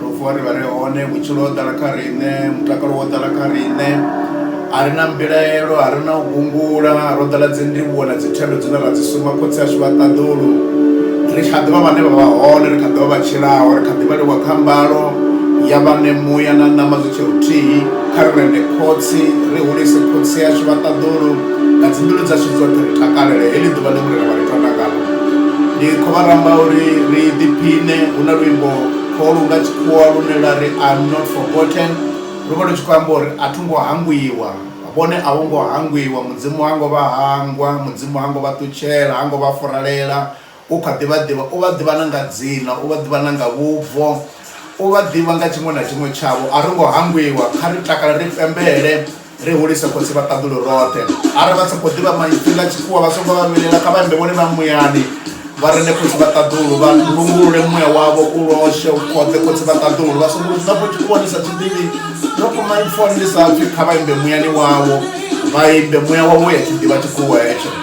Ro vuwa ri vha ri hone, vhutshilo ho ḓala kha riṋe, mutakalo wo ḓala kha riṋe, a ri na mbilaelo, a ri na u gungula, ro ḓala dzindivhuwo na dzithendo dzine ra dzi suma khotsi ashu vha ṱaḓulu. Ri kha ḓi vha vhane vha vha hone, ri kha ḓi vha vha tshilaho, ri kha ḓi vhaliwa kha mbalo ya vhane muya na ṋama zwi tshe huthihi. Kha ri rende Khotsi, ri hulise khotsi ashu vha ṱaḓulu, nga dzimbilu dzashu dzoṱhe ri takalele heḽi ḓuvha ḽe Murena vha ri tonda ngaḽo. Ndi khou vha ramba uri ri ḓiphiṋe, hu na luimbo. Kho lu nga tshikhuwa lune lwa ri I am not forgotten lu vha lu tshi khou amba uri a tho ngo hangwiwa, vhone a vho ngo hangwiwa, Mudzimu ha ngo vha hangwa, Mudzimu ha ngo vha ṱutshela, ha ngo vha furalela, u kha ḓi vha ḓivha. U vha ḓivha na nga dzina, u vha ḓivha na nga vhubvo, u vha ḓivha nga tshiṅwe na tshiṅwe tshavho. A ro ngo hangwiwa, kha ri takale ri pembele. ri hulise khotsi vha ṱaḓulu roṱhe arali vha sa khou ḓivha maipfi nga tshikhuwa vha songo vha vhilela kha vha imbe vhone vha muyani vha rende khotsi vha ṱaḓulu vha lungulule muya wavho u loshe u khotse khotsi vha ṱaḓulu vha songo vhudzisa fho tshikhuwa ni sa tshi ḓivhi no kho maipfoni ni sa pfi kha vha imbe muyani wavho vha imbe muya wavho ya tshi ḓivha tshikhuwa hetsho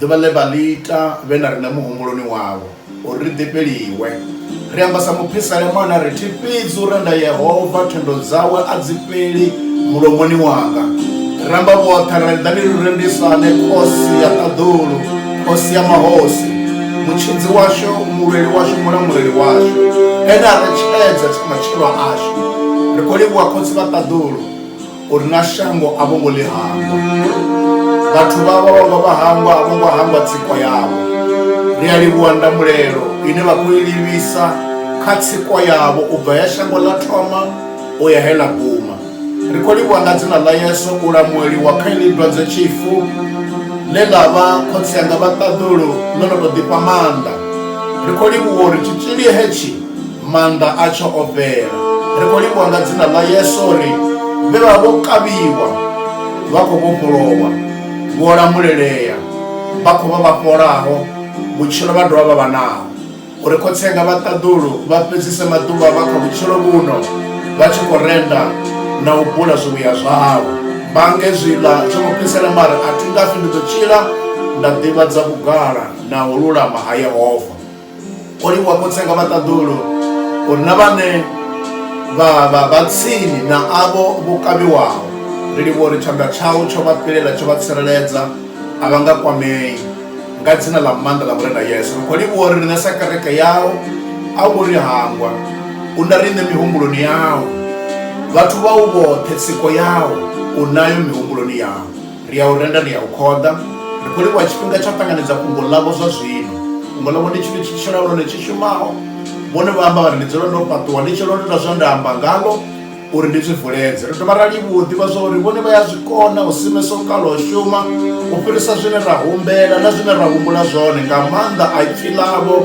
Ḓuvha ḽe vha ḽi ita vhe na riṋe muhumbuloni wavho, uri ri ḓifheliwe. Ri amba sa muphisalemana ri thi, Fhedzi u renda Yehova, thendo dzawe a dzi fheli mulomoni wanga. Ri ramba vhoṱhe ra ri, Ḓani ri rendisane Khosi ya ṱaḓulu, Khosi ya mahosi, Mutshidzi washu, Mulweli washu, Mulamuleli washu, Ene a retshedza matshilo ashu. Ri khou livhuwa Khotsi vha ṱaḓulu. uri na shango a vho ngo ḽi hangwa vhathu vha vha vha vha hangwa a vho ngo hangwa tsiko yavho ri a livhuwa ndamulelo ine vha khou i livhisa kha tsiko yavho u bva ya shango ḽa thoma u ya he ḽa guma ri khou livhuwa nga dzina ḽa yesu u lamueliwa kha iḽi dwadze tshifu ḽe ḽa vha khotsi anga vha ṱaḓulu ḽo no tou ḓifha maanḓa ri khou livhuwa uri tshitzhili hetshi Maanḓa atsho o fhela. Ri khou livhuwa nga dzina ḽa Yesu uri vhe vha vho kavhiwa vha khou vhofholowa, vho lamulelea, vha khou vha vha fholaho, vhutshilo vha dovha vha vha naho. Uri Khotsi anga vha ṱaḓulu vha fhedzise maḓuvha avho a kha vhutshilo vhuno vha tshi khou renda na u bula zwivhuya zwao. Mange zwiḽa zwo mu fhisela mara a thi ngafhi, ndi ḓo tshila nda ḓivhadza vhugala na u lulama ha Yehova. o livhuwa khotsi anga vhaṱaḓulu uri na vhane vha vha vha tsini na avho vho kavhiwaho ri livhuwa uri tshanḓa tshau tsho vha fhelela tsho vha tsireledza a vha nga kwamei nga dzina ḽa maanḓa ḽa murena yesu ri khou livhuwa uri riṋe sa kereke yau a wo ri hangwa u na riṋe mihumbuloni yau vhathu vhau vhoṱhe tsiko yau u nayo mihumbuloni yau Ri a u renda, ri a u khoḓa. Ri khou livhuwa tshifhinga tsha u ṱanganedza fhungo ḽavho zwa zwino. Fhungo ḽavho ndi tshithu tshi tshilaho nahone tshi shumaho. Vhone vha amba vha ri, Ndi dzule ndo fhaṱuwa, ndi tshi lwo ita zwe nda amba ngaḽo uri ndi zwi vuledze. Ri dovha ra livhuwa u ḓivha zwa uri vhone vha ya zwi kona u simesa u kala u shuma u fhirisa zwine ra humbela na zwine ra humbula zwone nga maanḓa a Ipfi ḽavho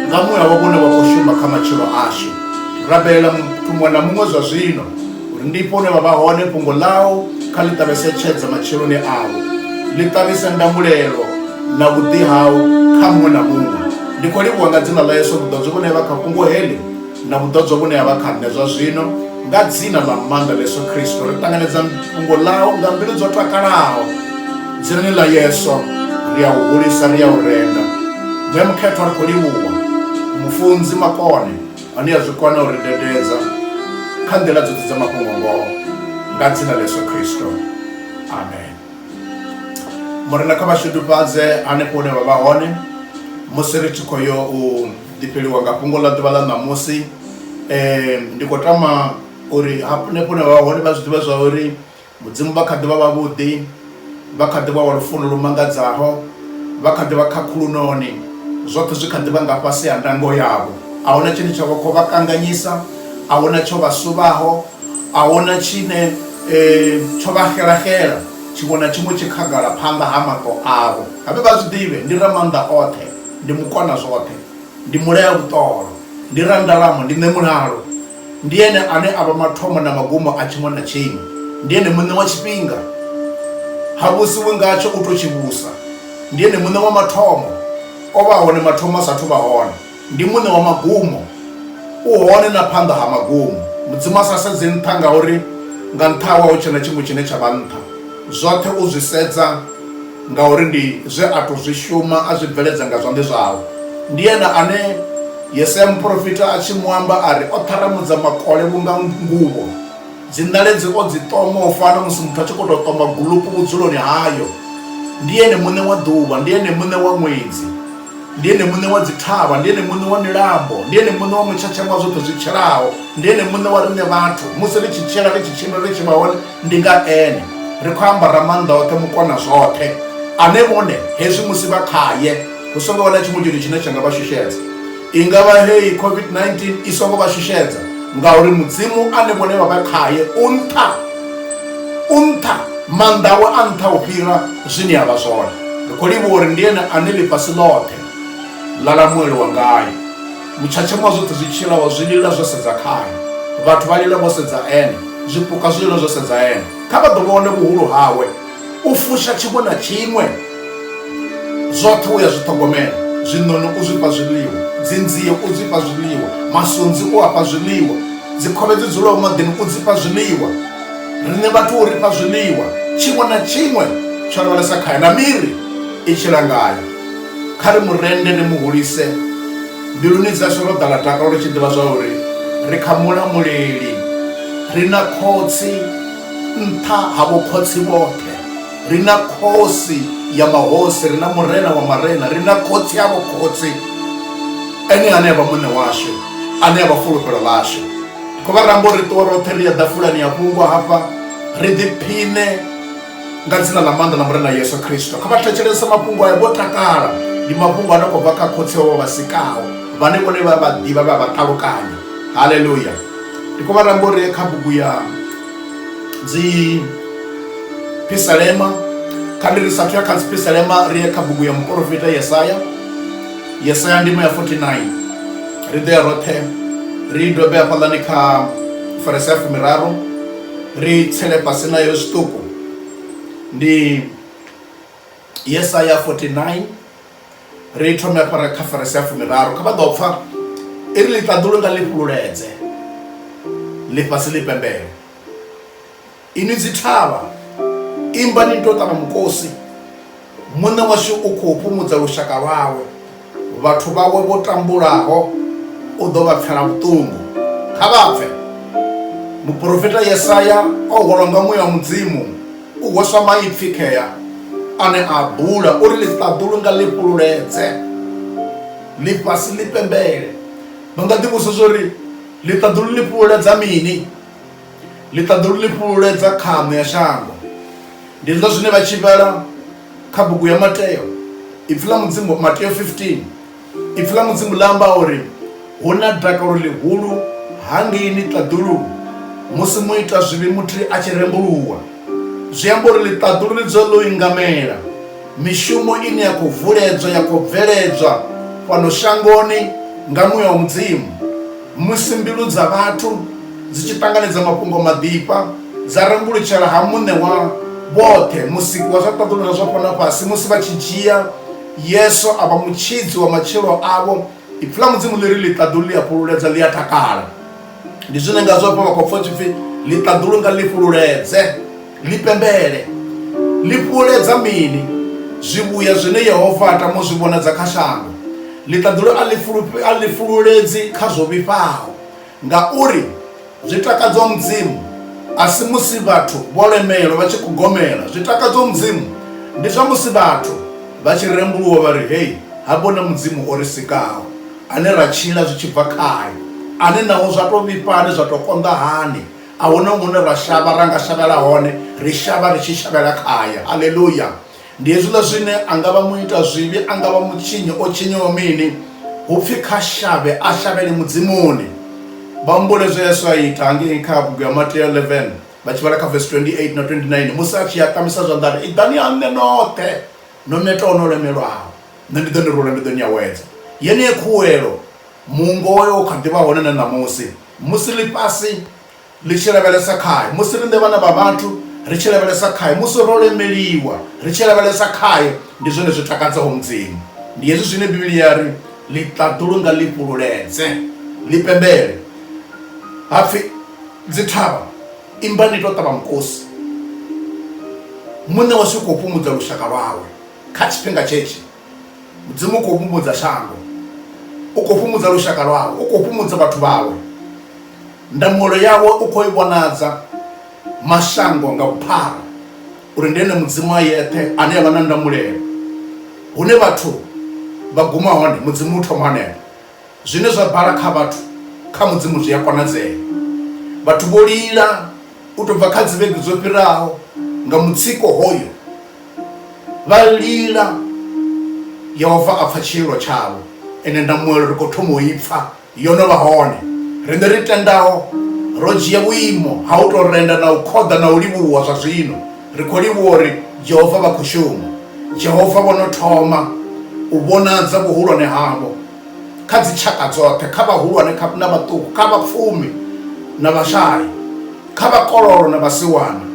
nga muya wavho une wa khou shuma kha matshilo ashu. Ri rabelela muthu muṅwe na muṅwe zwa zwino. uri ndi ifho hune vha vha hone fhungo ḽau kha ḽi ṱavhese tshedza matsheloni avho ḽi ṱavhise ndamulelo na vhuḓi hau kha muṅwe na muṅwe ndi khou livhuwa nga dzina ḽa yesu vhuḓodzo vhune ha vha kha fhungo heḽi na vhuḓodzo vhune ha vha kha nṋe zwa zwino nga dzina ḽa maanḓa ḽa yesu khristo ri ṱanganedza fhungo ḽau nga mbilu dzo takalaho dzinani ḽa yesu ri a u hulisa ri a u renda ṋe mukhethwa ri khou livhuwa mufunzi makone Ani a zwi kona u ri dededza kha nḓila dzoṱhe dza mafhungo ngoho nga dzina ḽa Yesu Kristo. Amen. Murena kha vhashudufhadze hanefho hune vha vha hone musi ri tshi khou yo u ḓifheliwa nga fhungo ḽa ḓuvha ḽa ṋamusi um ndi khou tama uri hanefho hune vha vha hone vha zwi ḓivha zwa uri Mudzimu vha kha ḓi vha vhavhuḓi, vha kha ḓi vha wa lufuno lu mangadzaho, vha kha ḓi vha khakhulunoni, zwoṱhe zwi kha ḓi vha nga fhasi ha ndango yavho. A huna tshine tsha vha khou vha kanganyisa, a huna tsho vha suvhaho, a huna tshine tsho vha xelaxela, tshiṅwe na tshiṅwe tshi khagala phanḓa ha maṱo avho. A vhe vha zwi ḓivhe, ndi Ramaanḓa oṱhe, ndi Mukona zwoṱhe, ndi Mulea vhuṱolo, ndi Randalamo, ndi Ṋemulalo. Ndi ene ane a vha mathomo na magumo a tshiṅwe na tshiṅwe. Ndi ene muṋe wa tshifhinga, ha vhusiwi ngatsho u tou tshi vhusa. Ndi ene muṋe wa mathomo, o vha hone mathomo a sa athu vha hone. Ndi muṋe wa magumo, u hone na phanḓa ha magumo. Mudzimu a sa sedzi nṱha ngauri nga nṱha hawe a hu tshe na tshiṅwe tshine tsha vha nṱha, zwoṱhe u zwi sedza. Ngauri ndi zwe a tou zwi shuma, a zwi bveledza nga zwanḓa zwawe. Ndi ene ane Yesaya muporofita a tshi mu amba a ri, O ṱharamudza makole vhunga nguvho, dziṋaledzi o dzi ṱoma u fana na musi muthu a tshi khou tou ṱoma gulupu vhudzuloni hayo. Ndi ene muṋe wa ḓuvha, ndi ene muṋe wa ṅwedzi. Ndi Ene Muṋe wa dzithavha, ndi Ene Muṋe wa milambo, ndi Ene Muṋe wa mutshatsha wa zwoṱhe zwi tshelaho, ndi Ene Muṋe wa riṋe vhathu. Musi ri tshi tshila, ri tshi tshimbila, ri tshi vha hone, ndi nga Ene. Ri khou amba Ramaanḓa oṱhe, Mukonazwoṱhe, ane vhone hezwi musi vha khae, hu songo vha na tshiṅwe tshithu tshine tsha nga vha shushedza. I nga vha heyi COVID-19 i songo vha shushedza, ngauri Mudzimu ane vhone vha vha khae u nṱha, u nṱha, maanḓa awe a nṱha u fhira. zwine ya vha zwone ri khou livhuwa uri ndi ene ane ḽifhasi ḽoṱhe ḽa lamueliwa ngayo mutshatshama wa zwoṱhe zwi tshilaho zwi lila zwo sedza khayo vhathu vha lila vho sedza ene zwipuka zwi lila zwo sedza ene kha vha ḓo vhone vhuhulu hawe u fusha tshiṅwe na tshiṅwe zwoṱhe u ya zwi ṱhogomela zwiṋoni u zwifha zwiḽiwa dzinzie u zwifha zwiḽiwa masunzi u afha zwiḽiwa dzikhovhe dzi dzulaho maḓini u dzifha zwiḽiwa riṋe vhathu u ri fha zwiḽiwa tshiṅwe na tshiṅwe tsho lavhelesa khae na miri i tshi langaya kha ri mu rende ri mu hulise mbiluni dzashu ro ḓala takalo ri tshi ḓivha zwa uri ri kha mulamuleli ri na khotsi nṱha ha vhokhotsi vhoṱhe ri na khosi ya mahosi ri na murena wa marena ri na khotsi ya vhokhotsi ene ane a vha muṋe washu ane a vha fulufhelo ḽashu kho vha rambo ri ṱuwa roṱhe ri ya ḓafulani ya fhungo hafha ri ḓiphiṋe nga dzina ḽa maanḓa ḽa murena yesu khristo kha vha thetshelese mafhungo ayo vho takala ndi mafhungo a no khou bva kha khotsi wavho vha sikaho vhane vhone vha vha ḓivha vha vha ṱalukanya haleluya ndi khou vha rambo ri ye kha bugu ya dzi pisalema kha ndi ri sathu ya kha dzi pisalema ri ye kha bugu ya muporofita yesaya yesaya ndimo ya 49 ri ḓo ya roṱhe ri dobe hafhaḽani kha farese ya fumiraru ri tsele fhasi nayo zwiṱuku ndi yesaya 49 ri thome afhara kha farese ya fumiraru kha vha ḓo pfa i ri ḽiṱaḓulu nga ḽi fhululedze ḽifhasi ḽi pembele Inwi dzithavha, imbani ni tou ṱavha mukosi, Muṋe washu u khou fhumudza lushaka lwawe, vhathu vhawe vho tambulaho u ḓo vha pfela vhuṱungu. Kha vha pfe! Muporofita Yesaya o hwalwa nga muya wa Mudzimu u hweswa maipfi khea ane a bula uri ḽiṱaḓulu nga ḽi fhululedze, ḽifhasi ḽi pembele. Vha nga ḓivhudzisa zwa uri, Ḽiṱaḓulu ḽi fhululedza mini? Ḽiṱaḓulu ḽi fhululedza khaṋo ya shango. Ndi zwo zwine vha tshi vhala kha bugu ya Mateo, Ipfi ḽa Mudzimu, Mateo 15. Ipfi ḽa Mudzimu ḽa amba uri hu na dakalo ḽihulu hangeini ṱaḓuluni musi muita zwivhi muthihi a tshi rembuluwa. Zwi amba uri ḽiṱaḓulu ḽi dzula ḽo ingamela mishumo ine ya khou vuledzwa, ya khou bveledzwa fhano shangoni nga muya wa Mudzimu. Musi mbilu dza vhathu dzi tshi ṱanganedza mafhungo maḓifha, dza rembulutshela ha Muṋe wa vhoṱhe, Musiki wa zwa ṱaḓulu na zwa fhano na fhasi, musi vha tshi dzhia Yesu a vha Mutshidzi wa matshilo avho, Ipfi ḽa Mudzimu ḽi ri, Ḽiṱaḓulu ḽi a fhululedza, ḽi a takala. Ndi zwine ngazwo hafha vha khou pfa hu tshi pfi, Ḽiṱaḓulu nga ḽi fhululedze. Ni pembele. Ni fhuhuledza mini zwivhuya zwine Yehova a tama u zwi vhonadza kha shango? Ḽiṱaḓulu a ḽi fhululedzi kha zwo vhifhaho, ngauri zwi takadza Mudzimu, a si musi vhathu vho lemelwa vha tshi khou gomela. Zwi takadza Mudzimu ndi zwa musi vhathu vha tshi rembuluwa vha ri, Hei ha vho na Mudzimu o ri sikaho, ane ra tshila zwi tshi bva khae, ane naho zwa tou vhifha hani, zwa tou konḓa hani, a hu na hune ra shavha ra nga shavhela hone ri shavha ri tshi shavhela khaye halleluya ndi hezwiḽa zwine a nga vha muita zwivhi a nga vha mutshinyi o tshinyiwa mini hu pfhi kha shavhe a shavhele mudzimuni vha humbule zwe yesu a ita hangei kha bugu ya mateo 11 vha tshi vhala kha vesi 28 na 29 musi a tshi a kamisa zwanḓa ri iḓani ha nṋe noṱhe no netaho no lemelwaho nṋe ndi ḓo ni rula ndi ḓo ni awedza yeneyo khuwelo mungo wayo u kha ḓivha hone na ṋamusi musi ḽifhasi ḽi tshi lavhelesa khae musi riṋe vhana vha vhathu ri tshi lavhelesa khae musi ro lemeliwa ri tshi lavhelesa khae ndi zwone zwi takadzaho mudzimu ndi hezwi zwine bivhili ya ri ḽi ṱaḓulu nga ḽi fhululedze ḽi pembele hapfi dzithavha imbani tou ṱavha mukosi muṋe washu u khou fhumudza lushaka lwawe kha tshifhinga tshetshi mudzimu u khou fhumudza shango u khou fhumudza lushaka lwawe u khou fhumudza vhathu vhawe ndangulo yawe u khou i vhonadza mashango nga vhuphara uri ndi ene mudzimu a yeṱhe ane avha na ndamulelo hune vhathu vha guma hone mudzimu u thoma hanefho Zwine zwa bala kha vhathu, kha Mudzimu zwi a konadzea. Vhathu vho lila u tou bva kha dzivhege dzo fhiraho nga mutsiko hoyo. Vha lila, Yehova a pfa tshiilwa tshavho. Ende ndamuelo ri khou thoma u i pfa, yo no vha hone. Riṋe ri tendaho ro dzhia vhuimo ha u tou renda na u khoḓa na u livhuwa zwa zwino. ri khou livhuwa uri jehova vha khou shuma jehova vho no thoma u vhonadza vhuhulwane havho kha dzitshaka dzoṱhe kha vhahulwane na vhaṱuku kha vhapfumi na vhashai kha vhakololo na vhasiwana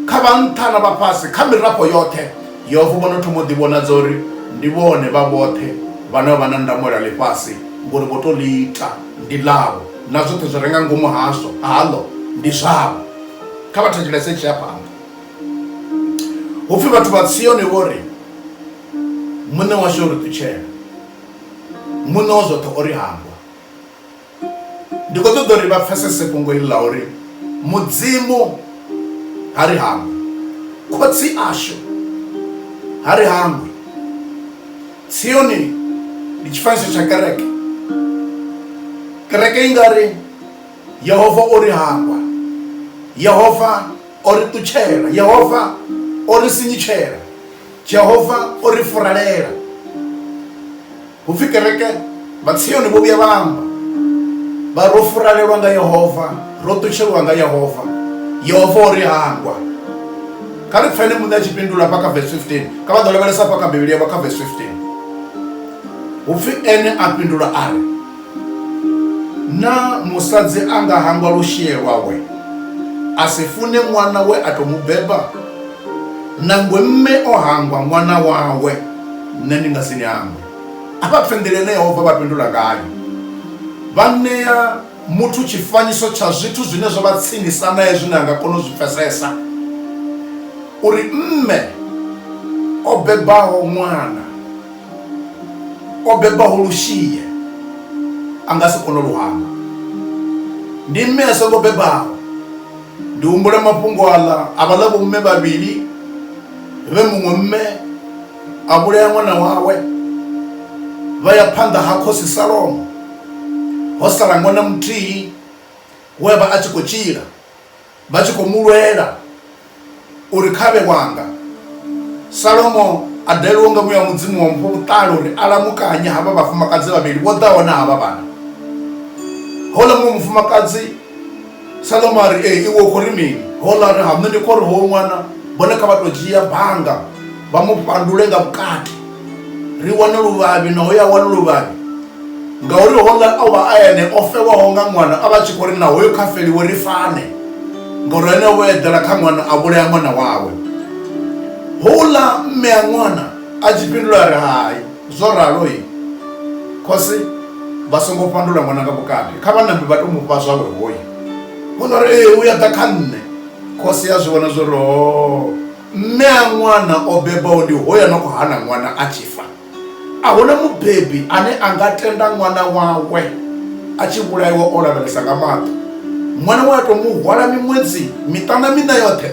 kha vhanṱha na vhafhasi kha mirafho yoṱhe yehova vho no thoma u ḓivhonadza uri ndi vhone vha vhoṱhe vhane vha na ndamulo ya ḽifhasi ngori vho to ḽi ita ndi ḽavho na zwoṱhe zwi renga ngomu hazwo haḽo ndi zwavho kha vha thetshelese tshi ya phanḓa hu pfi vhathu vha tsiyone vho ri muṋe washu o ri ṱutshela muṋe wa zwoṱhe o ri hangwa ndi khou ṱoḓa uri vha pfesese fhungo iḽi ḽa uri mudzimu ha ri hangwe khotsi ashu ha ri hangwe tsiyoni ndi tshifanyiso tsha kereke kereke i nga ri Yehova o ri hangwa. Yehova o ri ṱutshela. Yehova o ri sinyutshela. Jehova o ri furalela. Hu pfi kereke vha Tsioni vho vhuya vha amba vha ro furalelwa nga Yehova, ro ṱutshelwa nga Yehova. Yehova o ri hangwa. Kha ri pfene muṋe a tshi fhindula hafha kha vesi 15 kha vha ḓo lavhelesa hafha kha Bivhili yavho kha vesi 15 hu pfi ene a fhindula a ri. Naa musadzi a nga hangwa lushie lwawe a si fune ṅwana we a tou mu beba? Nangwe mme o hangwa ṅwana wawe, nṋe ndi nga si ni hangwe. A vha pfe nḓila ine Yehova vha fhindula ngayo. Vha ṋea muthu tshifanyiso tsha zwithu zwine zwa vha tsinisa nae zwine a nga kona u zwi pfesesa, uri mme o bebaho ṅwana. o bebaho Lushie a nga si kone lu hangwa. Ndi mme a songo bebaho. Ndi humbula mafhungo aḽa a vhaḽa vhomme vhavhili vhe muṅwe mme a vhulaya ṅwana wawe, vha ya phanḓa ha khosi Salomo, ho sala ṅwana muthihi we a vha a tshi khou tshila. Vha tshi khou mu lwela uri kha vhe wanga, Salomo a dalelwa nga muya wa Mudzimu wa mu fha vhuṱali uri a lamukanye havha vhafumakadzi vhavhili vho ḓaho na havha vhana. Houḽa muṅwe mufumakadzi, Salomo a ri, Ee, iwe u khou ri mini? Houḽa a ri, Ha, nṋe ndi khou ri hoyu ṅwana vhone kha vha tou dzhia banga. vha mu pandule nga vhukati ri wane luvhavhi na hoyo a wane luvhavhi ngauri hola o vha a ene o fhewaho nga ṅwana a vha tshi khou ri na hoyo kha feliwe ri fane ngauri ene o eḓela kha ṅwana a vhulaya ṅwana wawe houḽa mme a ṅwana a tshi fhindula ri hai zwo ralo i khosi vha songo pandula ṅwana nga vhukati kha vhanambi vha to mu fha zwawe hoyo houḽa ri ee u ya ḓa kha nṋe khosi ya zwi vhona zwo ri o oh. mme a ṅwana o bebaho ndi hoya no khou hana ṅwana a tshi fa a huna mubebi ane a nga tenda ṅwana wawe a tshi vhulaiwa o lavhelesa nga maṱo ṅwana wa to mu hwala miṅwedzi miṱana miṋa yoṱhe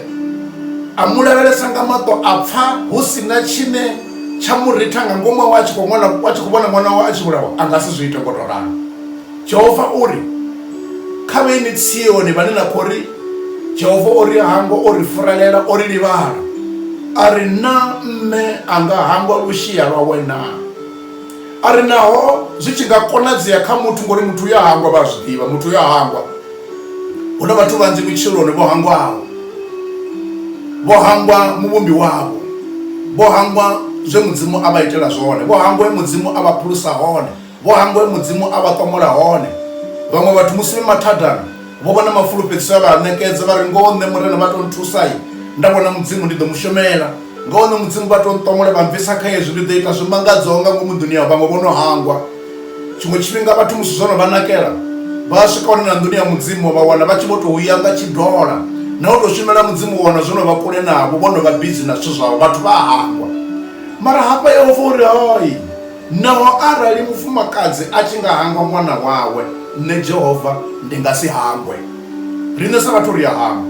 a mu lavhelesa nga maṱo a pfa hu si na tshine tsha mu ritha nga ngomu awe a tshi khou ṅwana a tshi khou vhona ṅwana wawe a tshi vhulawa a nga si zwi ite ngo to ralo Jehova u ri, Kha vhe ni Tsioni vhane na khou ri, Jehova o ri hangwa, o ri furelela, o ri livhala, a ri, Naa mme a nga hangwa lushia lwawe naa? A ri, Naho zwi tshi nga konadzea kha muthu, ngori muthu u ya hangwa, vha a zwi ḓivha, muthu u ya hangwa. Hu na vhathu vhanzhi vhutshiloni vho hangwaho, vho hangwa Muvhumbi wavho, vho hangwa zwe Mudzimu a vha itela zwone, vho hangwa he Mudzimu a vha phulusa hone. Vho hangwe Mudzimu a vha ṱomola hone. Vhaṅwe vhathu musi vhe mathadani vho vhona mafulufhedziso a vha a ṋekedza vha ri, Ngoho nṋe Murena vha tou nthusa, nda vhona Mudzimu ndi ḓo mu shumela. Ngoho nṋe Mudzimu vha tou nṱomola vha mbvisa kha hezwi, ndi ḓo ita zwi mangadzaho nga ngomu nḓuni yavho. Vhaṅwe vho no hangwa. Tshiṅwe tshifhinga vhathu musi zwo no vha nakela, vha a swika hone na nḓuni ya Mudzimu vha wana vha tshi vho tou ya nga tshidola. Na u tou shumela Mudzimu u wana zwo no vha kule navho, vho no vha bizi na zwithu zwavho. Vhathu vha a hangwa. Mara hafha Yehova u ri, Hai! Naho arali mufumakadzi a tshi nga hangwa ṅwana wawe, nṋe Jehova ndi nga si hangwe. Riṋe sa vhathu ri a hangwa.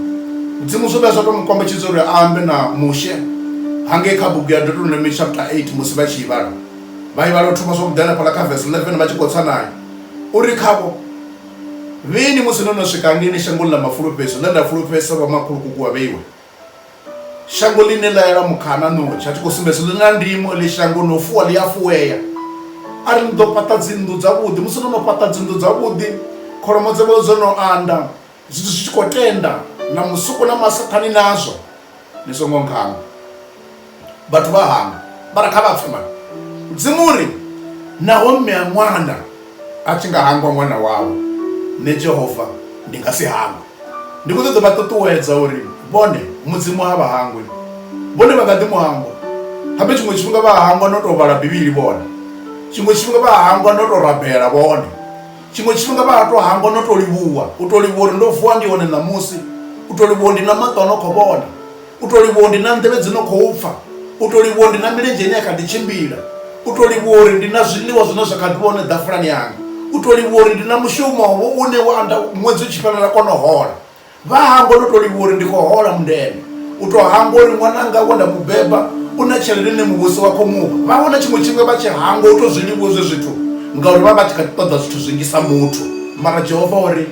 Mudzimu zwo vhuya zwa tou mu kombetshedza uri a ambe na Mushe hangei kha bugu ya Deuteronomy chapter 8 musi vha tshi i vhala. Vha i vhala u thoma zwavhuḓi hanefhaḽa kha verse 11 vha tshi khou tsa nayo. O ri khavho, Vhini musi no no swika hangeini shangoni ḽa mafulufhedzo, ḽe nda fulufhedzisa vhomakhulukuku wa vheiwe? shango ḽine ḽa yela mukhana notshi a tshi khou sumbedza ḽi na ndimo ḽi shango no fuwa ḽi a fuwea a ri ni ḓo fhaṱa dzinnḓu dzavhuḓi musi no no fhaṱa dzinnḓu dzavhuḓi kholomo dza vha dzo no anda zwithu zwi tshi khou tenda na musuku na masaṱhani nazwo ni songo nkhanga vhathu vha hangwa mara kha vha pfhe mara mudzimu uri naho mme a ṅwana a tshi nga hangwa ṅwana wawe nṋe jehova ndi nga si hangwe ndi khou ṱoḓa vha ṱuṱuwedza uri vhone mudzimu ha vha hangwi vhone vha nga ḓi mu hangwa habe tshiṅwe tshifhinga vha hangwa no tou vhala bivhili vhone tshiṅwe tshifhinga vha hangwa no tou rabela vhone tshiṅwe tshifhinga vha to hangwa no tou livhuwa u tou livhuwa uri ndo vuwa ndi hone ṋamusi u tou livhuwa ndi na maṱo a no khou vhona u to livhuwa ndi na nḓevhe dzi no khou pfha u to livhuwa ndi na milenzhe ine ya kha ḓi tshimbila u to livhuwa uri ndi na zwiḽiwa zwine zwa kha ḓi vhone ḓafulani yanga u to livhuwa uri ndi na mushumo wo une wa anda ṅwedzi u tshi fhelela kona hola vha hangwa no to livhuwa uri ndi khou hola mundende u to hangwa uri ṅwananga wa nda mu beba u na tshelede ine muvhuso wa khou muvha vha vhona tshiṅwe tshifhinga vha tshi hangwa u to zwi livhuwa zwe zwithu ngauri vha vha tshi kha ṱoḓa zwithu zwinzhi sa muthu mara jehova uri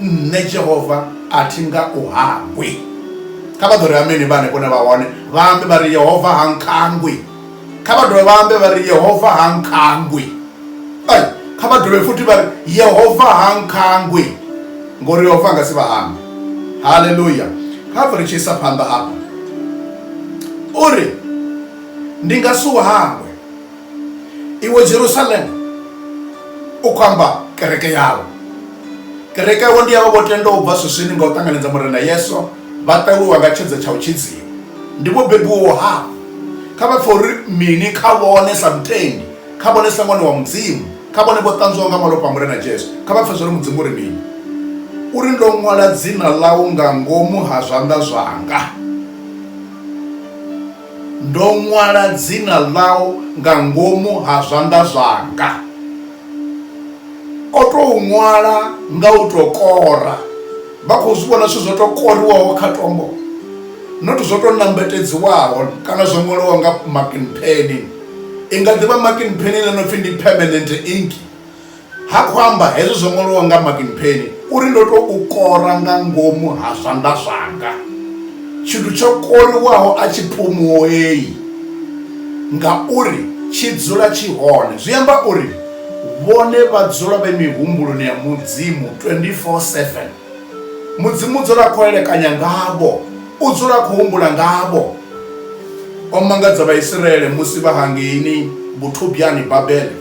nṋe jehova a thi nga u hangwi kha vha ḓo ri ameni vha hanefho na vha hone vha ambe vha ri yehova ha nkhangwi kha vha dovhe vha ambe vha ri yehova ha nkhangwi ai kha vha dovhe futhi vha ri yehova ha nkhangwi ngori yehova a nga si vha hangwe haleluya kha bva ri tshi isa phanḓa afha uri ndi nga si u hangwe iwe jerusalem u khou amba kereke yau kereke yau ndi yavho vho tenda u bva swiswini nga u ṱanganedza murena yesu vha ṱaluwa nga tshedza tsha u tshidziwa ndi vho bebiwaho hafho kha vha pfha uri mini kha vhone sa mutendi kha vhone sa ṅwana wa mudzimu kha vhone vho ṱanzwaho nga malofha a murena jesu kha vha pfha zwa uri mudzimu uri mini uri ndo ṅwala dzina ḽau nga ngomu ha zwanḓa zwanga Ndo ṅwala dzina ḽau nga ngomu ha zwanḓa zwanga. O tou ṅwala nga u tou kora, vha khou zwi vhona zwithu zwo tou koriwaho kha tombo, not zwo tou nambatedziwaho kana zwo ṅwaliwaho nga marking pen. I nga ḓi vha marking pen ine ya pfi ndi permanent ink. Ha khou amba hezwo zwo ṅwaliwa nga Martin Penny uri ndo to u kora nga ngomu ha zwanḓa zwanga tshithu tsho koriwaho a tshi phumuei ngauri tshi dzula tshi hone zwi amba uri vhone vha dzula vhe mihumbuloni ya mudzimu 24/7 mudzimu u dzula khou elekanya ngavho u dzula khou humbula ngavho o mangadza vhaisraele musi vha hangeini vhuthubyani babele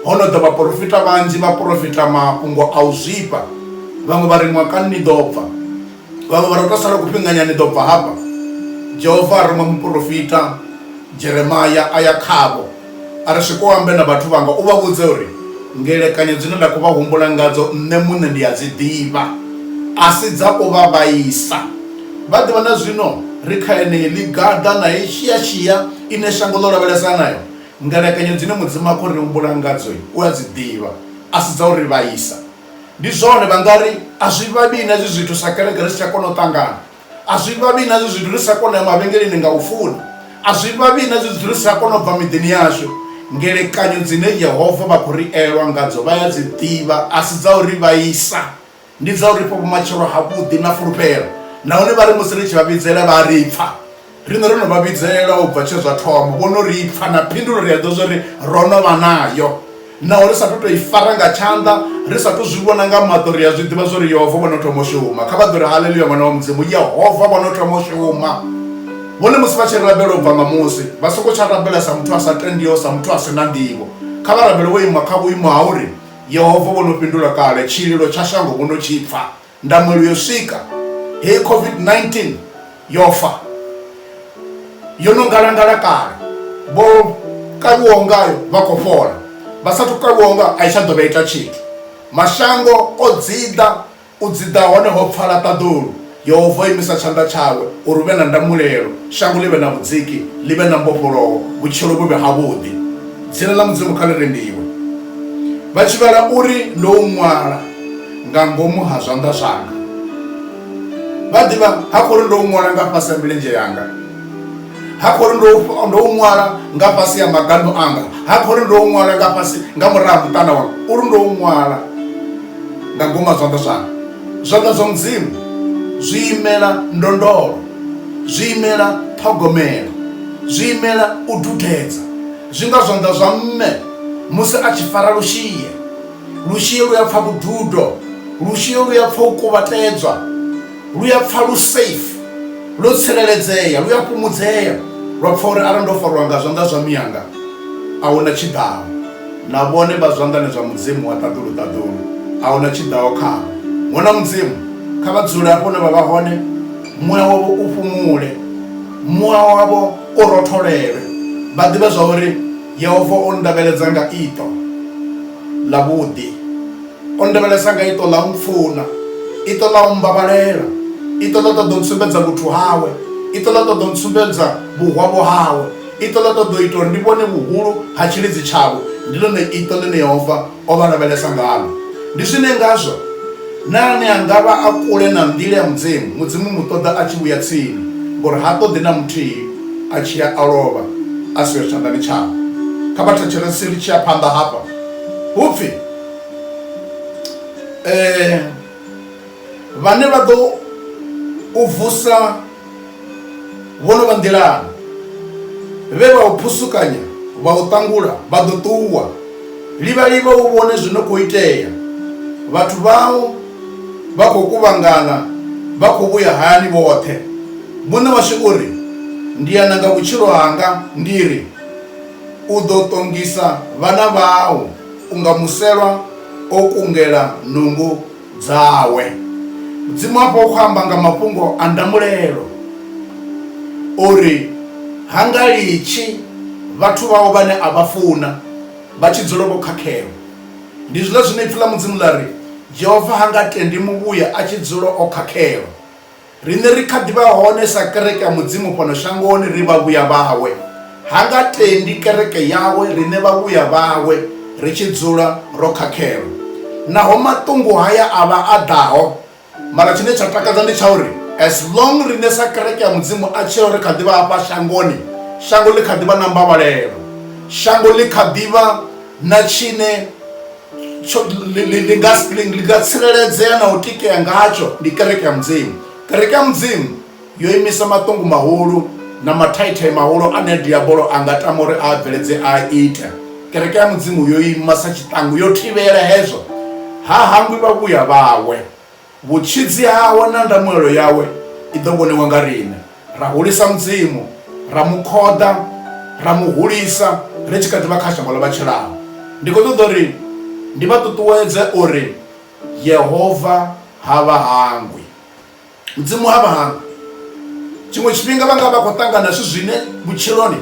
ho no ḓa vhaporofita vhanzhi vha porofita mafhungo a u zwifha vhaṅwe vha ri ṅwakani ni ḓo bva vhaṅwe vha ri u to sala kufhinganya ni ḓo bva hafha jehova a ruma muporofita jeremaya a ya khavho a ri swike u ambe na vhathu vhanga u vha vhudze uri ngelekanyo dzine nda khou vha humbula ngadzo nṋe muṋe ndi a dzi ḓivha a si dza u vha vhaisa vha ḓivha na zwino ri kha enei ḽigaḓa na i shiashia ine shango ḽo lavhelesa nayo ngelekanyo dzine mudzimu a khou ri humbula ngadzo u a dzi ḓivha a si dza u ri vhaisa ndi zwone vha nga ri a zwi vhavhi na hezwi zwithu sa kereke ri si tsha kona u ṱangana A zwi vhavhi na zwezwi ri sa kona u ya mavhengeleni nga u funa. A zwi vhavhi na zwezwi ri sa kona u bva miḓini yashu. Ngelekanyo dzine Yehova vha khou ri elwa ngadzo vha ya dzi ḓivha a si dza u ri vhaisa. Ndi dza u ri fha vhumatshelo havhuḓi na fulufhelo nahone vha ri musi ri tshi vha vhidzela vha a ri pfa. Riṋe ro no vha vhidzelwa u bva tshe zwa thoma, vho no ri pfa, na phindulo ri a ḓivha zwa uri ro no vha nayo. Naho ri sa athu tou i fara nga tshanḓa, ri sa athu zwi vhona nga maṱo, ri a zwi ḓivha zwa uri Yehova vho no thoma u shuma. Kha vha ḓo ri, Haleluya! Ṅwana wa Mudzimu, Yehova vho no thoma u shuma! Vhone musi vha tshi rabela u bva nga musi, vha songo tsha rabela sa muthu a sa tendiho, sa muthu a si na nḓivho. Kha vha rabele vho ima kha vhuimo ha uri, Yehova vho no fhindula kale, tshililo tsha shango vho no tshi pfa. ndangulo yo swika heyi covid-19 yo fa yo no ngalangala kale vho kavhiwaho ngayo vha khou fhola vha sathu kavhiwaho ngayo a i tsha ḓo vha ita tshithu mashango o dziḓa u dziḓa hone ho pfala ṱaḓulu yehova o imisa tshanḓa tshawe uri hu vhe na ndamulelo shango ḽi vhe na vhudziki ḽi vhe na mbofholowo vhutshilo vhu vhe havhuḓi dzina ḽa mudzimu kha ḽi rendiwe vha tshivhala uri ndo u ṅwala nga ngomu ha zwanḓa zwanga vha ḓivha ha khou ri ndo u ṅwala nga fhasi ha milenzhe yanga ha khou ri ndo ndo u ṅwala nga fhasi ha magando anga ha khou ri ndo u ṅwala nga fhasi nga murahu muṱana wanga uri ndo u ṅwala nga ngomu ha zwanḓa zwanga zwanḓa zwa mudzimu zwi imela ndondolo zwi imela ṱhogomelo zwi imela u dudedza zwi nga zwanḓa zwa mme musi a tshi fara lushie Lushie lu a pfa vhududo. Lushie lu a pfa u kuvhatedzwa. Lu a pfa lu safe, lwo tsireledzea. Lu a fhumudzea lwa pfa uri, Arali ndo fariwa nga zwanḓa zwa mianga, a hu na tshi ḓaho. Na vhone vha zwanḓani zwa Mudzimu wa ṱaḓulu-ṱaḓulu, a hu na tshi ḓaho khavho. Ṅwana wa Mudzimu, kha vha dzule afho hune vha vha hone, muya wavho u fhumule, muya wavho u rotholelwe. Vha ḓivhe zwa uri. Yehova o nndavheledza nga iṱo ḽavhuḓi. O nndavhelesa nga iṱo ḽa u mpfuna, iṱo ḽa u mmbavhalela, iṱo ḽa ṱoḓa u ntsumbedza vhuthu hawe, iṱo ḽa ṱoḓa u ntsumbedza vhuhwavho hawe, iṱo ḽa ṱoḓa u ita uri ndi vhone vhuhulu ha tshilidzi tshawe. Ndi ḽone iṱo ḽine Yehova o vha lavhelesa ngaḽo. Ndi zwine ngazwo na ane a nga vha a kule na nḓila ya Mudzimu, Mudzimu u mu ṱoḓa a tshi vhuya tsini, ngauri ha ṱoḓi na muthihi a tshi ya a lovha a siho tshanḓani tshawe. Kha vha thetshelese ri tshi ya phanḓa hafha, hu pfi, vhane vha ḓo u vusa vho no vha nḓilani vhe vha u phusukanya vha u ṱangula vha ḓo ṱuwa livhalivha u vhone zwi no khou itea vhathu vhau vha khou kuvhangana vha khou vhuya hayani vhoṱhe muṋe washu u ri ndi ya nanga vhutshilo hanga ndi ri u ḓo ṱongisa vhana vhau Unga muselwa o kungela nungo dzawe. Mudzimu hafha u khou amba nga mafhungo a ndamulelo, o ri, Ha nga litshi vhathu vhau vhane a vha funa vha tshi dzula vho khakhelwa. Ndi zwiḽa zwine Ipfi ḽa Mudzimu ḽa ri, Jehova ha nga tendi muvhuya a tshi dzula o khakhelwa. Riṋe ri kha ḓi vha hone sa kereke ya Mudzimu fhano shangoni ri vhavhuya vhawe. Ha nga tendi kereke yawe riṋe vhavhuya vhawe ri tshi dzula ro khakhelwa. Naho maṱungu haya a vha a ḓaho, mara tshine tsha takadza ndi tsha uri as long riṋe sa kereke ya Mudzimu a tshila ri kha ḓi vha hafha shangoni, shango ḽi kha ḓi vha na mbavhalelo. Shango ḽi kha ḓi vha na tshine nga tsireledzea na u tikea ngatsho ndi kereke ya mudzimu kereke ya mudzimu yo imisa maṱungu mahulu na mathaithai mahulu ane diabolo a nga tama uri a bveledze a ita kereke ya mudzimu yo ima sa tshiṱangu yo thivhela hezwo ha hangwi vhavhuya vhawe Vhutshidzi hawe na ndamuelo yawe i ḓo vhoniwa nga riṋe. Ra hulisa Mudzimu, ra mu khoḓa, ra mu hulisa ri tshi kha ḓi vha kha shango ḽa vha tshilaho. Ndi khou ṱoḓa uri ndi vha ṱuṱuwedze uri Yehova ha vha hangwi. Mudzimu ha vha hangwi. tshiṅwe tshifhinga vha nga vha khou ṱangana zwithu zwine vhutshiloni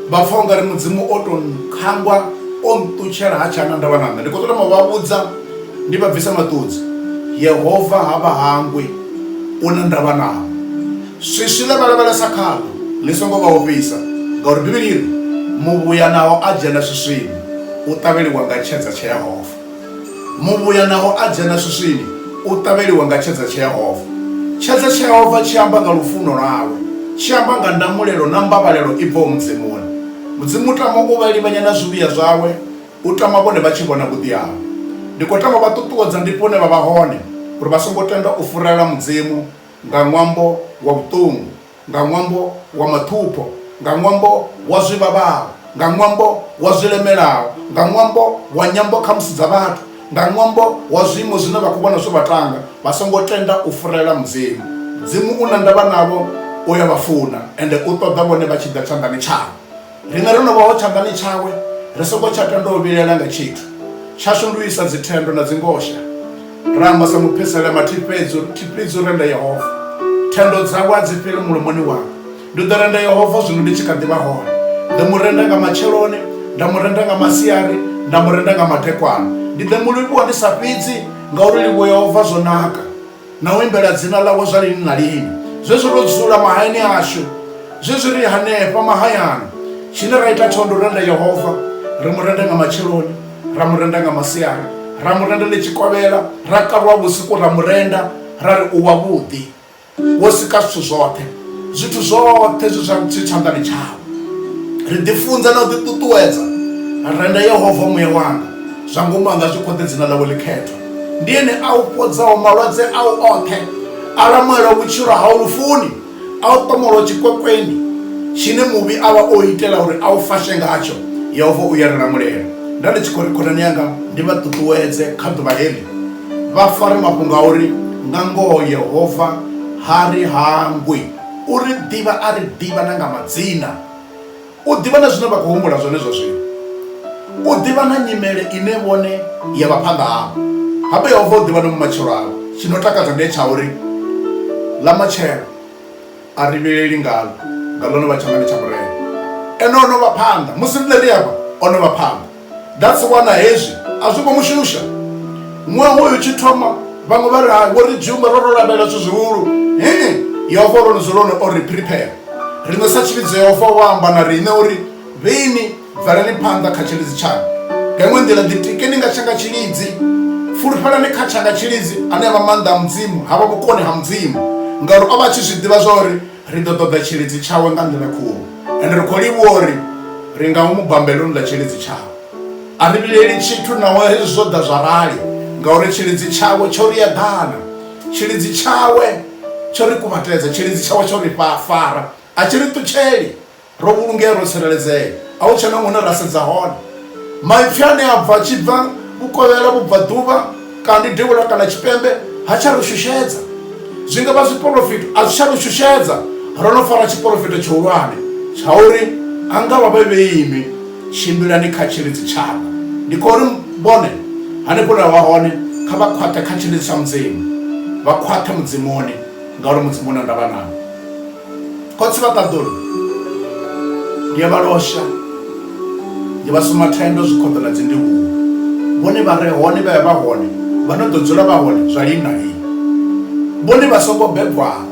vha pfha u nga ri mudzimu o to khangwa o nṱutshela ha tshana ndavha na nṋe ndi khou ṱola ma vha vhudza ndi vha bvisa maṱudzi yehova ha vha hangwi u na ndavha nao swiswi ḽe vha lavhelesa khaḽo ḽi songo vha ofhisa ngauri bivhili iri muvhuya naho a dzhena swiswini u ṱavheliwa nga tshedza tsha yehova Muvhuya naho a dzhena swiswini, u ṱavheliwa nga tshedza tsheehova. Tshedza tsheehova tshi amba nga lufuno lwawe, tshi amba nga ndamulelo na mbavhalelo i bvaho Mudzimuni. Mudzimu u tama u vha livhanya na zwivhuya zwawe, u tama vhone vha tshi vhona vhuḓi hawe. Ndi khou tama u vha ṱuṱuwedza hanefho hune vha vha hone uri vha songo tenda u furela Mudzimu nga ṅwambo wa vhuṱungu. nga ṅwambo wa maṱhupho, nga ṅwambo wa zwi vhavhaho, nga ṅwambo wa zwi lemelaho, nga ṅwambo wa nyambo khamusi dza vhathu, nga ṅwambo wa zwiimo zwine vha khou vhona zwo vha tanga, vha songo tenda u furela Mudzimu. Mudzimu u na ndavha navho, u a vha funa, ende u ṱoḓa vhone vha tshi ḓa tshanḓani tshawe. Riṋe ro no vhaho tshanḓani tshawe, ri songo tsha tenda u vhilaela nga tshithu, tshashu ndi u isa dzithendo na dzingosha. Ra amba sa muphisela mathihi fhedzi uri, Thi fhedzi u renda Yehova. Thendo dzawe a dzi fheli mulomoni wanga. Ndi ḓo renda Yehova zwino ndi tshi kha ḓi vha hone. Ḓo mu renda nga matsheloni, nda mu renda nga masiari, nda mu renda nga madekwana. Ndi ḓo mu livhuwa ndi sa fhidzi, ngauri u livhuwa Yehova zwo naka. na u imbela dzina ḽawe zwa lini na lini zwezwi ro dzula mahayani ashu zwezwi ri hanefha mahayani tshine ra ita tsho ndi u renda yehova ri mu renda nga matsheloni ra mu renda nga masiari ra mu renda ḽi tshikovhela ra kalwa vhusiku ra mu renda ra ri u wavhuḓi wo sika zwithu zwoṱhe zwithu zwoṱhe zwi zwi tshanḓani tshawe ri ḓifunza na u ḓiṱuṱuwedza renda yehova muya wanga zwa ngomu anga zwi khoḓe dzina ḽawe ḽikhethwa ndi ene a u fhodzaho malwadze au oṱhe a lamulela vhutshilo hau lufuni a u ṱomolo tshikwekweni tshine muvhi a vha o itela uri a u fashe ngatsho yehova u ya ri lamulela nda ndi tshi khou ri khonani yanga ndi vha ṱuṱuwedze kha ḓuvha heḽi vha fare mafhungo a uri nga ngoho yehova ha ri hangwi u ri ḓivha a ri ḓivha na nga madzina U ḓivha na zwine vha khou humbula zwone zwa zwino. U ḓivha na nyimele ine vhone ya vha phanḓa havho. Hape Yehova u ḓivha na vhumatshelo havho. Tshi no takadza ndi tsha uri ḽa matshelo a ri vhileli ngaḽo, nga ḽone vha tsha nga ndi tsha Murena. Ene o no vha phanḓa. Musi riṋe ri afha, o no vha phanḓa. that's wana hezwi a zwi khou mu shusha ṅwaha uyu tshi thoma vhaṅwe vha ri hai wo ri dzumba ro ro lavhelela zwithu zwihulu ee yehova ro ni dzulone o ri prepare riṋe sa tshivhidzo yehova wa amba na riṋe uri vhini bvelani phanḓa kha tshilidzi tshaṋu nga iṅwe nḓila ḓitikeni nga tshanga tshilidzi fulufhelani kha tshanga tshilidzi ane a vha maanḓa a mudzimu ha vha vhukoni ha mudzimu ngauri o vha a tshi zwi ḓivha zwa uri Ri ḓo ṱoḓa tshilidzi tshawe nga nḓila khulu, ende ri khou livhuwa uri ri nga mu bambela u ḽa tshilidzi tshawe. A ri vhilaeli tshithu naho hezwi zwo ḓa zwa rali, ngauri tshilidzi tshawe tsho ri eḓana. Tshilidzi tshawe tsho ri kuvhatedza, tshilidzi tshawe tsho ri fara, a tshi ri ṱutsheli, Ro vhulungea, ro tsireledzea. A hu tshena hune ra sedza hone. Maipfi ane a bva a tshi bva vhukovhela, vhubvaḓuvha, kani devhula kana tshipembe ha tsha ri shushedza. Zwi nga vha zwiporofito, a zwi tsha ri shushedza. Ro no fara tshiporofito tshihulwane tsha uri, A nga vha vhe vheinwi, tshimbilani kha tshilidzi tshanga. Ndi khou ri, vhone, hanefho hune vha vha hone, kha vha khwaṱhe kha tshilidzi tsha Mudzimu, vha khwaṱhe Mudzimuni, ngauri Mudzimu u na ndavha navho. khotsi vha ṱaḓulu ndi ya vha losha ndi vha suma thendo zwikhoḓo na dzi ndivhuwo vhone vha re hone vha ya vha hone vha no ḓo dzula vha hone zwa lini na lini vhone vha songo bebwaho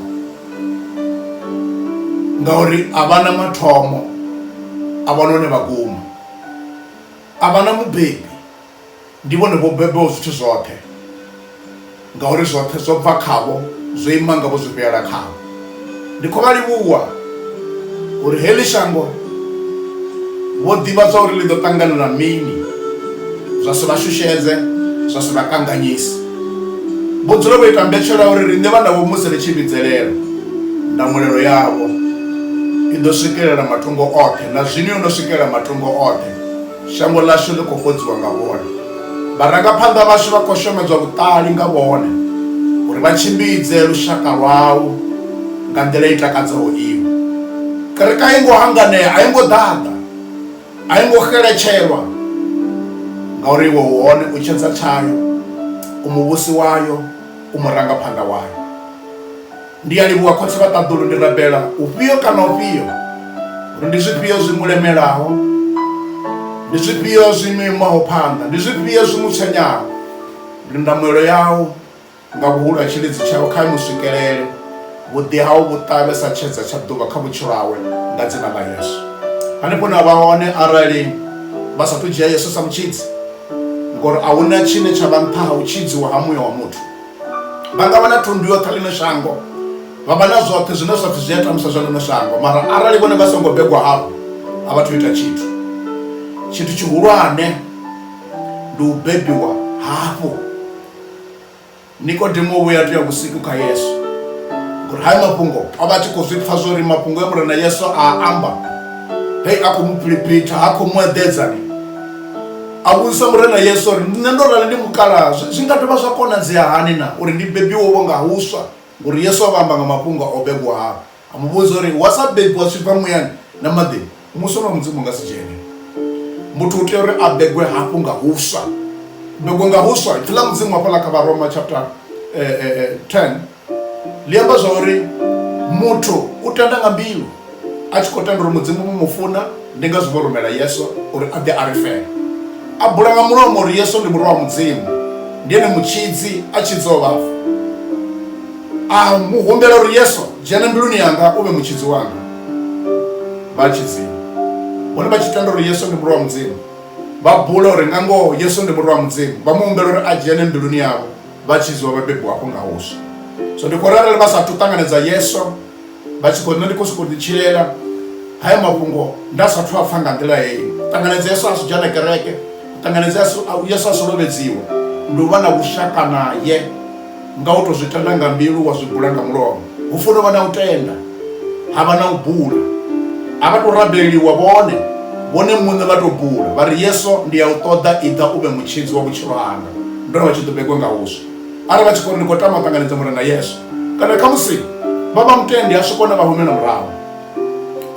ngauri a vha na mathomo a vha na hone vha guma a vha na mubebi Ndi vhone vho bebaho zwithu zwoṱhe, ngauri zwoṱhe zwo bva khavho, zwo ima ngavho, zwi vhuyela khavho. Ndi khou vha livhuwa uri heḽi shango vho ḓivhadzwa uri ḽi ḓo ṱangana na mini, zwa si vha shushedze, zwa si vha kanganyise. Vho dzula vho ita mbetshelwa ya uri riṋe vhana vho musi ri tshi vhidzelela, ndamulelo yavho i ḓo swikelela matungo oṱhe, na zwino yo no swikelela matungo oṱhe. shango ḽashu ḽi khou fhodziwa nga vhone vharangaphanḓa vhashu vha khou shomedzwa vhuṱali nga vhone uri vha tshimbidze lushaka lwau nga nḓila i takadzaho iwe kereke a i ngo hanganea a i ngo ḓaḓa a i ngo xeletshelwa ngauri iwe u hone u tshedza tshayo u muvhusi wayo u murangaphanḓa wayo Ndi a livhuwa khotsi vha ṱaḓulu ndi rabela ufhio kana ufhio uri ndi zwifhio zwi mu lemelaho ndi zwifhio zwi mu imaho phanḓa ndi zwifhio zwi mu tshenyaho ndi ndamuelo yau nga vhuhulu ha tshilidzi tshau kha mu swikelele vhuḓi hau vhu ṱavhe sa tshedza tsha ḓuvha kha vhutshilo hawe nga dzina ḽa yesu hanefho na vha hone arali vha sathu dzhia yesu sa mutshidzi ngori a huna tshine tsha vha nṱha ha u tshidziwa ha muya wa muthu vha nga vha na thundu yoṱhe ḽino shango vha vha na zwoṱhe zwine zwa pfhi zwi a tamusa zwa ḽino shango mara arali vhone vha songo begwa hafho a vha thu ita tshithu tshithu tshihulwane ndi u bebiwa hafho nikodemo u vhuya tea vhusiku kha yesu ngori hayo mafhungo a vha tshi khou zwi pfha zwo ri mafhungo e murena yesu a amba hei a khou mu philiphitha ha khou mu eḓedzani a vhudzisa murena yesu uri nṋe ndo rali ndi mukalaha zwi nga dovha zwa konadzea hani na uri ndi bebiwovho nga huswa ngori yesu a vha amba nga mafhungo o bebwaho a mu vhudza uri wa sa bebiwa zwi bva muyani na maḓini muso na mudzimu nga si dzhene muthu u tea uri a begwe hafhu nga huswa begwe nga huswa ipfi ḽa mudzimu hafhaḽa kha varoma chapter 10 eh, eh, eh, ḽi amba zwa uri muthu u tenda nga mbilu a tshi khou tenda uri mudzimu mu mu funa ndi ngazwo vho rumela yesu uri a ḓe a ri fela a bula nga mulomo uri yesu ndi murwa wa mudzimu ndi ene mutshidzi a tshidzaho vhafu a mu humbela uri yesu dzhena mbiluni yanga u vhe mutshidzi wanga vha tshidzimu vhone vha tshi tenda uri yesu ndi murwa wa mudzimu vha bula uri nga ngoho yesu ndi murwa wa mudzimu vha mu humbela uri a dzhene mbiluni yavho vha tshi zwa vhabebi hafho nga huswa so ndi khou ri arali vha sathu ṱanganedza yeso vha tshi khou nṋe ndi khou sokou ḓitshilela hayo mafhungo nda sathu a pfha nga nḓila heyi ṱanganedza yeso a si dzhena kereke ṱanganedza yeso a si lovhedziwe ndi u vha na vhushaka naye nga u tou zwi tenda nga mbilu wa zwi bula nga mulomo hu funa u vha na u tenda ha vha na u bula a vha tou rabeliwa vhone vhone muṋe vha tou bula vha ri yeso ndi ya u ṱoḓa iḓa u vhe mutshidzi wa vhutshilo hanga ndo ri vha tshi ḓo begwa nga huswa arali vha tshi khou ri ndi khou tama u ṱanganedza mure na yesu kana kha musi vha vha mutendi a swikona vha humela murahu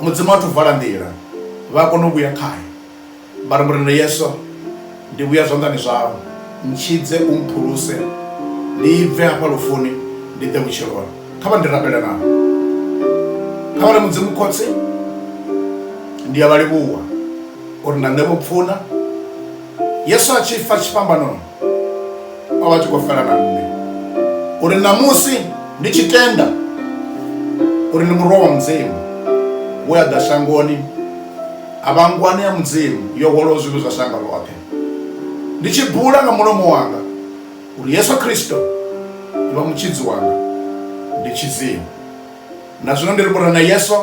mudzimu a thu vala nḓila vha a kona u vhuya khae vha ri mure na yesu ndi vhuya zwanḓani zwau ntshidze u mphuluse ndi bve hafha lufuni ndi ḓe vhutshiloni kha vha ndi rabela navho kha vha ri mudzimu khotsi ndi a vha livhuwa uri na nṋe vho pfuna Yesu a tshi fa tshifhambanoni, o vha a tshi khou fela na nṋe uri ṋamusi ndi tshi tenda uri ndi murwa wa Mudzimu we a ḓa shangoni a vha ngwani ya Mudzimu yo hwalaho zwivhi zwa shango ḽoṱhe, ndi tshi bula nga mulomo wanga uri Yesu Kristo ndi vha Mutshidzi wanga, ndi tshidziwe. na zwino ndi ri murena yesu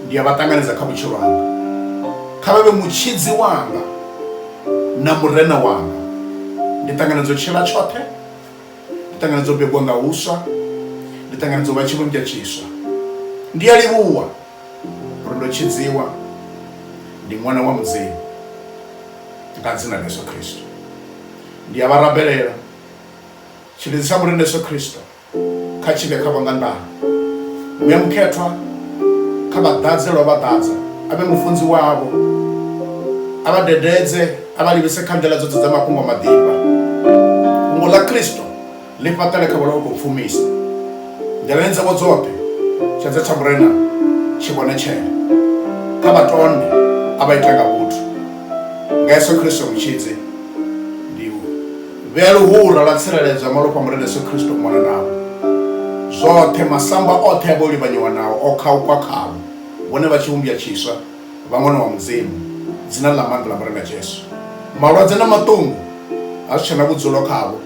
ndi a vha ṱanganedza kha vhutshilo hanga kha vha vhe mutshidzi wanga na murena wanga ndi ṱanganedza u tshila tshoṱhe ndi ṱanganedza u begwa nga huswa ndi ṱanganedza u vha tshivhunja tshiswa ndi a livhuwa uri ndo tshidziwa ndi ṅwana wa mudzimu nga dzina ḽa yesu khristo ndi a vha rabelela tshilidzi tsha murena yesu khristo kha tshivhe kha vhangandana muya mukhethwa kha vha ḓadze lwa vha ḓadza a vhe mufunzi wavho a vha dededze a vha livhise kha nḓila dzoṱhe dza mafhungo maḓifha fhungo ḽa kristo ḽi fhaṱele kha vholo khou pfumisa nḓilani dzavho dzoṱhe tshedza tsha murena tshi vhone tshele kha vha tonde a vha ita nga vhuthu nga yesu kristo mutshidzi Vhea luhura lwa tsireledzo ya malofha a Murena Yesu Kristo u mona navho. Zwoṱhe, masamba oṱhe a vhe o livhanyiwa nao, o khaukwa khavho, vhone vha tshivhumbwa tshiswa, vha ṅwana wa Mudzimu, Dzina ḽa maanḓa ḽa Murena Jesu. Malwadze na maṱungu ha zwi tshe na vhudzulo khavho,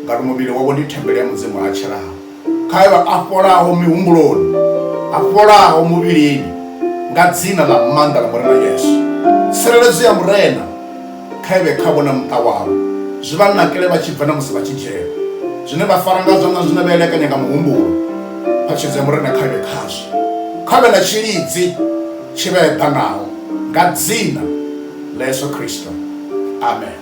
ngauri muvhili wavho ndi thembele ya Mudzimu a tshilao. kha yo a fholaho mihumbuloni a fholaho muvhilini nga dzina ḽa maanḓa ḽa murena yesu tsireledzo ya murena kha ivhe kha vhona muṱa wavho zwi vha nakele vha tshi bva na musi vha tshi dzhena zwine vha fara ngazwo na zwine vha elekanya nga muhumbulo phatshedzo ya murena kha ivhe khazwo kha vhe na tshilidzi tshi vha eḓanaho nga dzina ḽa yesu kristo amen